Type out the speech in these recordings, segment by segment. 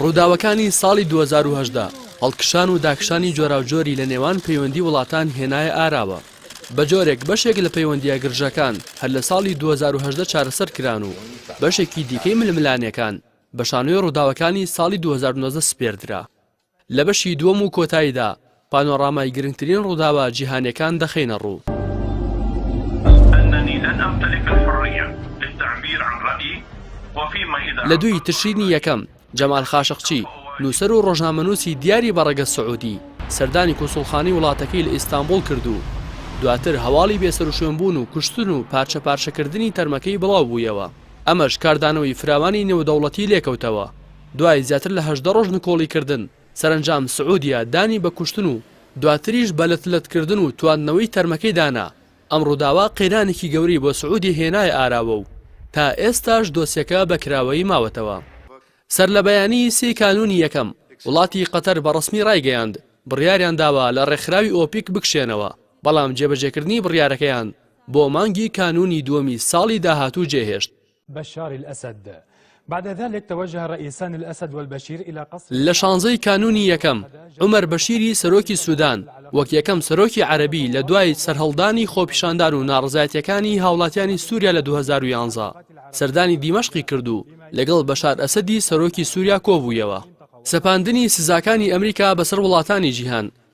ڕووداوەکانی ساڵی 2010 هەڵکشان و داکشانی جۆراوجۆری لە نێوان پەیوەندی وڵاتان هێنایە ئاراوە بە جۆرێک بەشێک لە پەیوەندیە گرژەکان هەر لە ساڵی 2010 چارەسەر کران و بەشێکی دیکەی ململانەکان بە شانۆی ڕووداوەکانی ساڵی 2009 سپێردرا لە بەشی دووەم و کۆتاییدا پانۆرامای گرنگترین ڕووداوە جیهانیەکان دەخەینە ڕوو. لە دووی تشرینی یەکەم، جەمال خاشقچی، نووسەر و ڕۆژنامەنووسی دیاری بە ڕەگەز سعودی، سەردانی کونسوڵخانەی وڵاتەکەی لە ئیستانبوڵ کرد و دواتر هەواڵی بێسەروشوێنبوون و کوشتن و پارچە پارچەکردنی تەرمەکەی بڵاوبوویەوە، ئەمەش کاردانەوەی فراوانی نێودەوڵەتی لێکەوتەوە. دوای زیاتر لە هەژدە ڕۆژ نکۆڵی کردن، سەرەنجام سعودیە دانی بە کوشتن و دواتریش بە لەت لەت کردن و تواندنەوەی تەرمەکەی دانا، ئەم ڕووداوە قەیرانێکی گەورەی بۆ سعودیە هێنایە ئاراوە و تا ئێستاش دۆسیەکە بە کراوەیی ماوەتەوە. سەرلەبەیانی سی کانوونی یەکەم، وڵاتی قەتەر بە ڕەسمی ڕایگەیاند، بڕیاریان داوە لە ڕێکخراوی ئۆپیک بکشێنەوە، بەڵام جێبەجێکردنی بڕیارەکەیان بۆ مانگی کانوونی دووەمی ساڵی داهاتوو جێهێشت. بشار الاسد بعد ذلك توجه رئیسان الاسد والبشیر الى قصر لە شانزە ی کانوونی یەکەم، عومەر بەشیری سەرۆکی سودان، وەک یەکەم سەرۆکی عەرەبی لە دوای سەرهەڵدانی خۆپیشاندان و ناڕەزایەتییەکانی هاوڵاتیانی سوریا لە دوو هەزار و یانزە، سەردانی دیمەشقی کرد و لەگەڵ بەشار ئەسەدی سەرۆکی سوریا کۆبوویەوە. سەپاندنی سزاکانی ئەمریکا بەسەر وڵاتانی جیهان،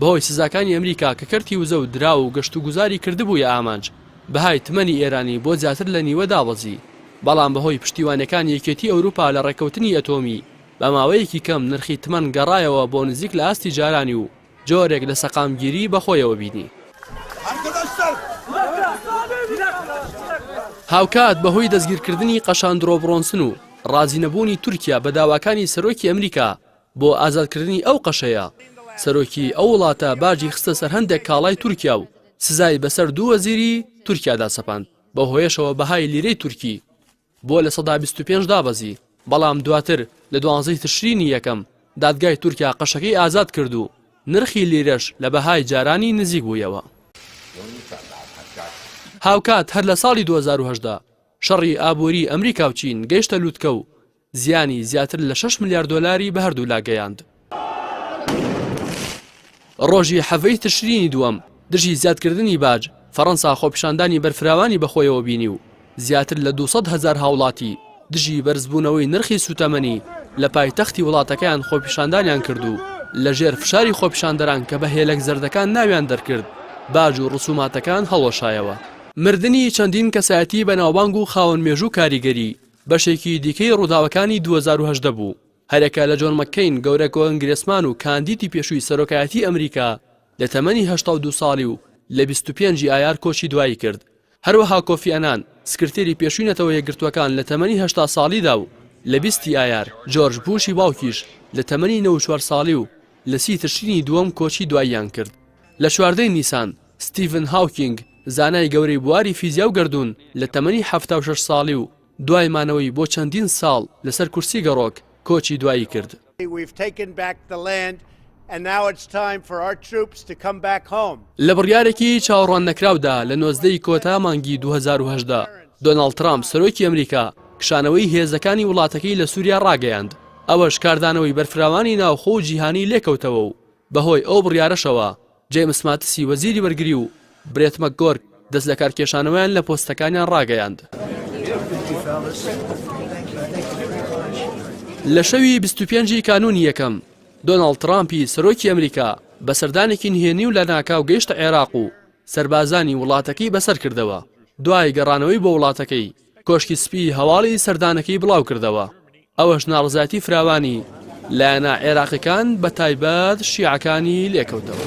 بەهۆی سزاکانی ئەمریکا کە کەرتی وزە و دراو و گەشتوگوزاری کردبوویە ئامانج، بەهای تمەنی ئێرانی بۆ زیاتر لە نیوە دابەزی، بەڵام بەهۆی پشتیوانیەکانی یەکێتی ئەوروپا لە ڕێککەوتنی ئەتۆمی، بە ماوەیەکی کەم نرخی تمەن گەڕایەوە بۆ نزیک لە ئاستی جارانی و جۆرێک لە سەقامگیری بە خۆیەوە بینی. هاوکات بەهۆی دەستگیرکردنی قەشان درۆبڕۆنسن و ڕازینەبوونی تورکیا بە داواکانی سەرۆکی ئەمریکا، بۆ ئازادکردنی ئەو قەشەیە، سەرۆکی ئەو وڵاتە باجی خستە سەر هەندێک کاڵای تورکیا و سزای بەسەر دوو وەزیری تورکیادا سەپاند، بەو هۆیەشەوە بەهای لیرەی تورکی بۆ لە سەدا بیست و پێنج دابەزی. بەڵام دواتر لە دوانزە ی تشرینی یەکەم، دادگای تورکیا قەشەکەی ئازاد کرد و نرخی لیرەش لە بەهای جارانی نزیک بوویەوە. هاوکات هەر لە ساڵی دوو هەزار و هەژدە، شەڕی ئابووریی ئەمریکا و چین گەیشتە لووتکە و زیانی زیاتر لە شەش ملیار دۆلاری بە هەردوولا گەیاند. ڕۆژی حەڤەی تشرینی دووەم، دژی زیادکردنی باج، فەرەنسا خۆپیشاندانی بەرفراوانی بەخۆیەوە بینی و زیاتر لە دوو سەد هەزار هاوڵاتی دژی بەرزبوونەوەی نرخی سوتەمەنی لە پایتەختی وڵاتەکەیان خۆپیشاندانیان کرد و لەژێر فشاری خۆپیشاندەران کە بە هێلەک زەردەکان ناویان دەرکرد باج و ڕسوماتەکان هەڵوەشایەوە. مردنی چەندین کەسایەتی بەناوبانگ و خاوەن مێژوو کاریگەری بەشێکی دیکەی ڕووداوەکانی دوو هەزار و هەژدە بوو، هەرێکە لە جۆن مەککەین گەورە کۆنگرێسمان و کاندیدی پێشووی سەرۆکایەتی ئەمریکا لە تەمەنی هەشتا و دوو ساڵی و لە بیست و پێنج ی ئایار کۆچی دوایی کرد. هەروەها کۆفی ئەنان سکرتێری پێشووی نەتەوە یەکگرتووەکان لە تەمەنی هەشتا ساڵیدا و لە بیست ی ئایار، جۆرج بووشی باوکیش لە تەمەنی نەوەد و چوار ساڵی و لە سی تشرینی دووەم کۆچی دواییان کرد. لە چواردە ی نیسان، ستیڤن هاوکینگ، زانای گەورەی بواری فیزیا و گەردوون، لە تەمەنی حەفتا و شەش ساڵی و دوای مانەوەی بۆ چەندین ساڵ لەسەر کورسی گەڕۆک، کۆچی دوایی کرد. لە بڕیارێکی چاوەڕواننەکراودا لە نۆزدە ی کۆتا مانگی دوو هەزار و هەژدە، دۆناڵد ترامپ، سەرۆکی ئەمریکا کشانەوەی هێزەکانی وڵاتەکەی لە سووریا ڕاگەیاند، ئەوەش کاردانەوەی بەرفراوانی ناوخۆ و جیهانی لێکەوتەوە و بەهۆی ئەو بڕیارەشەوە جەیمس ماتسی وەزیری بەرگری و برێت مەکگۆرک دەستلەکارکێشانەوەیان لە پۆستەکانیان ڕاگەیاند. لە شەوی بیست و پێنج ی کانوونی یەکەم، دۆناڵد ترامپی سەرۆکی ئەمریکا بە سەردانێکی نهێنی و لەناکاو گەیشتە عێراق و سەربازانی وڵاتەکەی بەسەرکردەوە، دوای گەڕانەوەی بۆ وڵاتەکەی، کۆشکی سپی هەواڵی سەردانەکەی بڵاوکردەوە، ئەوەش ناڕەزایەتی فراوانی لایەنە عێراقیەکان بە تایبەت شیعەکانی لێکەوتەوە.